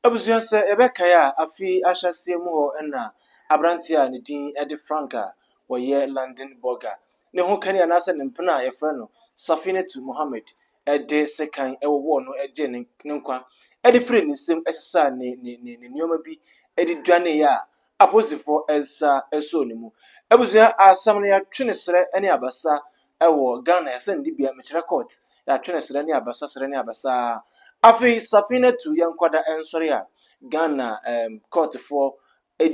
Abusua sɛ yɛbɛkae a, afe yi ahyɛaseɛ mu hɔ na aberanteɛ a ne din de Frank a ɔyɛ London Burger ne ho kani anaasɛ ne mpena a yɛfrɛ no Safinatu Mohammed de sekan wowɔɔ no gyee ne nkwa de firii ne nsam sesaa ne nneɛma bi de dwaneeɛ a apolisifoɔ nsa sɔɔ ne mu. Abusua asɛm no yɛatwe ne serɛ ne abasa wɔ Ghana asɛnnibea mekyerɛ court yɛatwe ne serɛ ne abasa serɛ ne abasa afei Safinatu Yankwada nsɔre a Ghana ɛɛm courtfoɔ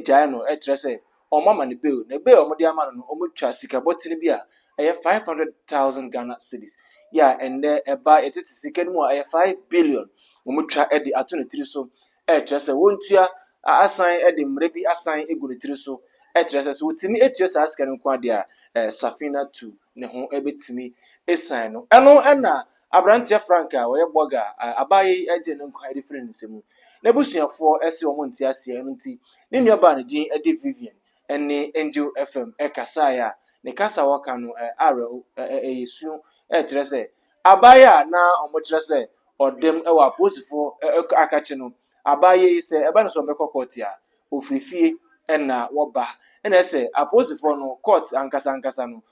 gyae no kyerɛ sɛ wɔn ama no bail na bail a wɔde ama no no wɔn twa sika bɔtene bi a ɛyɛ five hundred thousand Ghana cedis yɛ a ɛnɛ ɛba yɛtete sika no mu a ɛyɛ five billion wɔn twa de ato ne tiri so ɛrekyerɛ sɛ wɔntua asan de mmerɛ bi asan agu ne tiri so, ɛkyerɛ sɛ sɛ ɔtumi tua saa sika no nko ara deɛ a, Safinatu ne ho bɛtumi asiane no. Ɛno na aberanteɛ Frank a ɔyɛ bɔga a abaayewa yi agye ne nkwa de firi ne nsa mu. N'abusuafoɔ se wɔn nte aseɛ, ɛno nti ne nuabaa a ne din de Vivian ne Angel FM kasaeɛ a, ne kasa a wɔka no awerɛho, ɛyɛ su, ɛkyerɛ sɛ Abaye a na wɔkyerɛ sɛ ɔdem wɔ apolisifo akakye no, Abaye yi sɛ ɛba no sɛ ɔbɛkɔ kɔɔte a, ofiri fie na wɔba. Ɛna ɛsɛ apolisifo no kɔɔte ankasa ankasa no,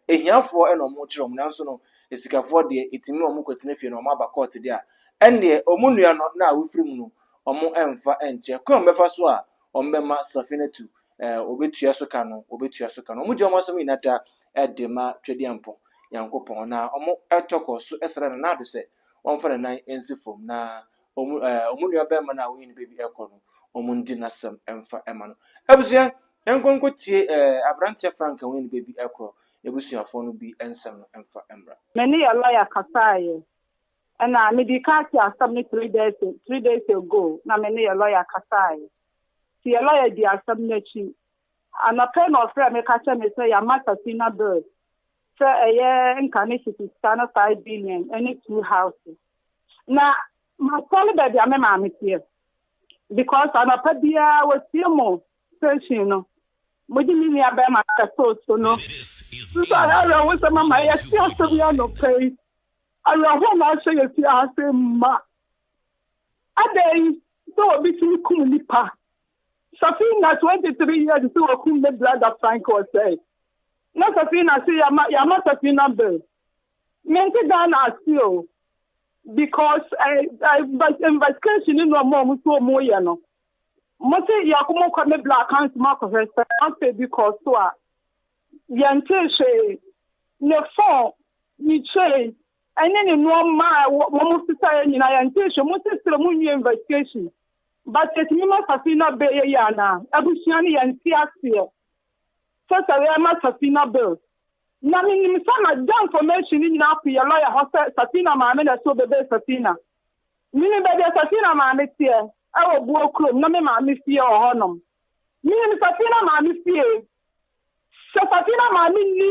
ahiafoɔ na wɔkyerɛ wɔn nanso no, asikafoɔ deɛ etumi ma wɔkɔtena fie na wɔaba kɔɔte deɛ a, ɛndeɛ wɔn nua no na awofiri mu no, wɔmfa nkyɛ. Kwan a wɔbɛfa so a wɔbɛma Safinatu eh, wɔbɛtua so ka no, wɔbɛtua so ka no. Wɔgye wɔn asɛm nyinaa da eh, de ma Twɛdiampɔ Nyankopɔn, na wɔtɔ kɔ so srɛ no n'ado sɛ wɔmfa ne nan nsi fam, na wɔn eh, wɔn nua bɛrima no a wɔyɛ ne baabi ɛkɔ no, wɔn ndi n'asɛm mfa ɛma no. Abusua, yɛnkɔ nkɔ tie eh, aberanteɛ Frank a wɔyɛ ne baabi ɛkorɔ n'abusuafoɔ no bi nsɛm no mfa mmra. Me ne Elia kasaeɛ, Ɛna mede ka te asɛm no three days three days ago na me ne yɛ lawyer kasae nti yɛ lawyer di asɛm no akyi anɔpa yi na ɔfrɛ me ka kyerɛ me sɛ yɛama Safina bill sɛ ɛyɛ nka ne sisi sika no five billion ɛne two houses na masɔre baabi a me maame teɛ because anɔpa biara wɔtie mo station no mode me nua bɛrima kɛtoo so no nso ayɛ awerɛhosɛm ama yɛte asɛm yi anɔpa yi Awerɛhoɔ na ahyɛ yɛn fie ha sei ma. Adɛn sɛ obi tumi kum nipa. Safina 23 years sɛ wakum ne brother Frank ɔsɛe. Na Safina se yama yama Safina bill. Mente Ghana ase o. Because eh, eh, invest- investigation ne nneɛma a wɔn so wɔn yɛ no. Mo se yɛkɔ mo kɔ me bla account mu akɔhwɛ sɛ afei bi kɔ so a Yɛntee hwee. Ne fon, ne chain, ɛne ne nnoɔma a wɔn sesaeɛ nyinaa yɛntee hwee. Mo nso srɛ mo nwie investigation. But yɛtumi ma Safina bail yɛ yie anaa? Abusua no yɛnte aseɛ. Sɛ sɛ yɛ ma Safina bail. Na me nim sɛ ma da information no nyinaa ko yɛ lawyer hɔ sɛ Safina maame na ɛsɛ ɔbɛ bail Safina. Me nim baabi a Safina maame teɛ ɛwɔ Buo kurom na me maame fie wɔ hɔ nom. Me nim Safina maame fie. Sɛ Safina maame nni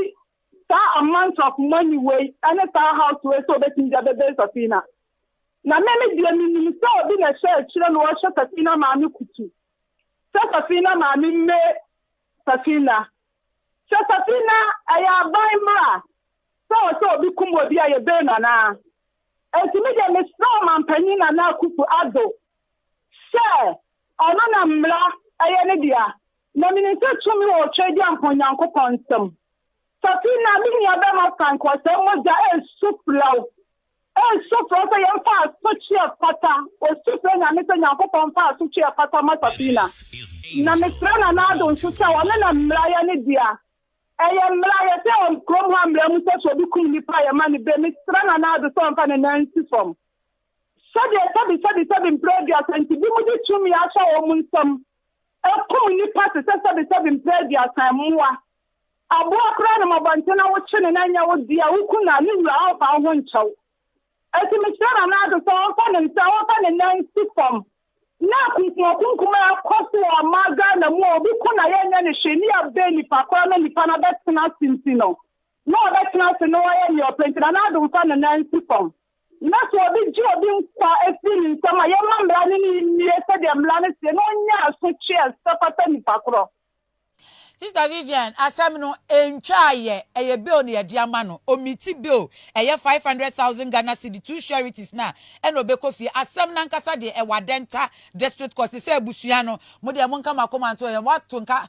saa amount of money wei ne saa house wei sɛ obetumi de abɛbɛn Safina. Na me me deɛ menim sɛ obi na ɛhyɛ akyire na ɔhyɛ Safina maame kutu sɛ Safina maame mme Safina. Sɛ Safina ɛyɛ aban mmra sɛ wɔ sɛ obi kum obi a yɛbɛn no anaa? Enti me deɛ mesrɛ ɔmampanyin Nana Akufo Addo sɛ ɔno na mmra ɛyɛ ne dea. Na minim sɛ tumi wɔ Otwedeɛ mpo Nyankopɔn nsam. Safina, me nuabarima Frank, wɔ sɛɛ mogya ɛresu frɛw, ɛresu frɛw sɛ yɛmfa asotwe a ɛfata, ɔsu frɛ Nyame sɛ Nyankopɔn mfa asotwe a ɛfata mma Safina. Na mesrɛ Nana Addo nso sɛ ɔno na mmara yɛ ne dea. Ɛyɛ mmara, yɛsɛ wɔ kurom ha mmara mu sɛ sɛ obi kum nipa a yɛma no bɛ. Mesrɛ Nana Addo sɛ ɔmfa ne nan nsi fam. Sɛdeɛ sɛbi sɛbi sɛbi mprɛ aduasa nti, binom de tumi ahyɛ wɔn nsam. Ɛkum nnipa te sɛ sɛbesɛbe mpɛ aduasa, mmoa, aboa koraa nam abɔnten na wokye no na ɛnyɛ wo dea, woku no a, ne wura remfa wo ho nkyɛ wo. Enti mesrɛ Nana Addo sɛ ɔmfa ne nsa, ɔmfa ne nan nsi fam na akunkumakunkum a ɛkɔ so wɔ ɔman Ghana mu a obi ku no a yɛnyɛ no hwee ne yɛabɛn nnipa koraa na nnipa no abɛtena ase nti no, na ɔbɛtena ase na wayɛ nea ɔpɛ nti, na n'adomfa no nan si fam. Na sɛ obi gye obi nkwa firi ne nsam a, yɛmma mmara no ne nnie sɛdeɛ mmara no seɛ, na ɔnnya asotwe a ɛsɛ fata nipa korɔ. Sister Vivian, asɛm no, ɛntwa ayɛ, ɛyɛ bill na yɛde ama no, ɔmiti bill, ɛyɛ five hundred thousand Ghana cedi, two sureties no a, ɛna ɔbɛkɔ fie. Asɛm no ankasa deɛ, ɛwɔ Adenta District Court, sɛ sɛ abusua no, mo deɛ monka mo akoma nto yɛn, wɔato nka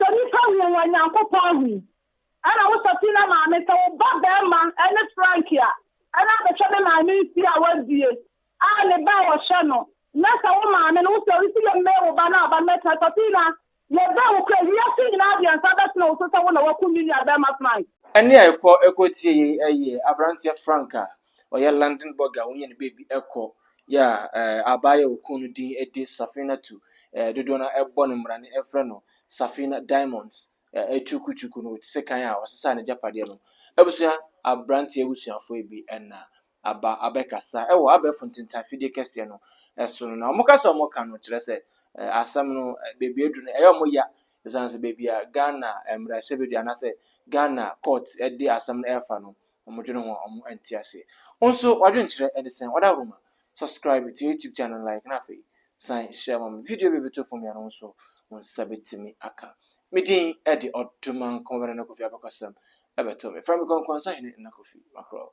Sɛ nnipa hu wo a, Nyankopɔn hu wo. Ɛna wo Safina maame, sɛ wo ba barima ne Frank a, ɛna abɛhwɛ me maame nsi a w'abie a ne ba a wɔhwɛ no. Na sɛ wo maame no, wo sɛ ɔresi yɛ mmɛɛ wo ba no a, ɔba no bɛtena. Safina, yɛ bɛɛ wo kura, wiase nyinaa deɛ nsa bɛtene wo so sɛ wo na wakum me nua barima Frank. Ɛne a ɛkɔ ɛkɔ tie yei ɛyɛ abranteɛ Frank a ɔyɛ London bɔga a wonya ne baabi kɔ yɛ a eh, abaayewa a okun no din de Safinatu eh, dodoɔ no ara bɔ no mmara no frɛ no Safina Diamonds eh, aturukuturuku no te sɛ kan a ɔsesaa n'agyapadeɛ no. Abusua aberanteɛ abusuafoɔ bi na aba abɛkasa wɔ abɛɛfo ntentan fidie kɛseɛ no eh, so no na wɔn kasa a wɔka no kyerɛ sɛ eh, asɛm no eh, baabi adu no ɛyɛ wɔn ya ɛsiane sɛ baabi a Ghana eh, mmarahyɛbadwa anaasɛ Ghana court eh, de asɛm no ɛrefa no wɔdwene ho a wɔn nte aseɛ. Wo nso w'adwenkyerɛ ɛde sɛn? Wadaworo ma subscribe to YouTube channel like na afei san share ma me. Video bi bɛto fam yi a na wo nso wo nsa bɛtumi aka. Me din ɛde Ɔdomankɔ Bɛda Nna Kofi Abakɔsɛm ɛbɛto me. Frɛ me Kɔnkɔn Sahene Nna Kofi Makorɔ.